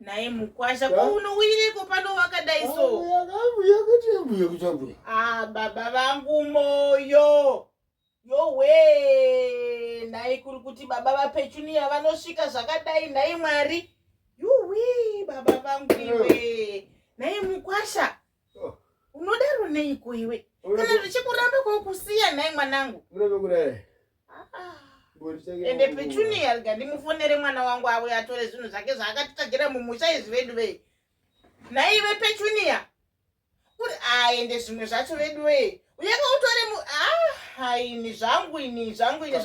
naye mukwasha ko unouyireko pano wakadai so ah, baba vangu moyo yowe nhai kuri kuti baba vapechuniya vanosvika zvakadai nhai mwari yuwi baba vangu iwe nhai mukwasha unodaro neiko iwe kana zvichikuramba kokusiya nhai mwanangu ende petunia rega ndimufonere mwana wangu auye atore zvinhu zvake zvaakatitagira mumusha izvi vedu vei nhai ive petunia uri aende zvimwe zvacho vedu vei uyaka utore mu ah, haini zvangu ini zvangu ini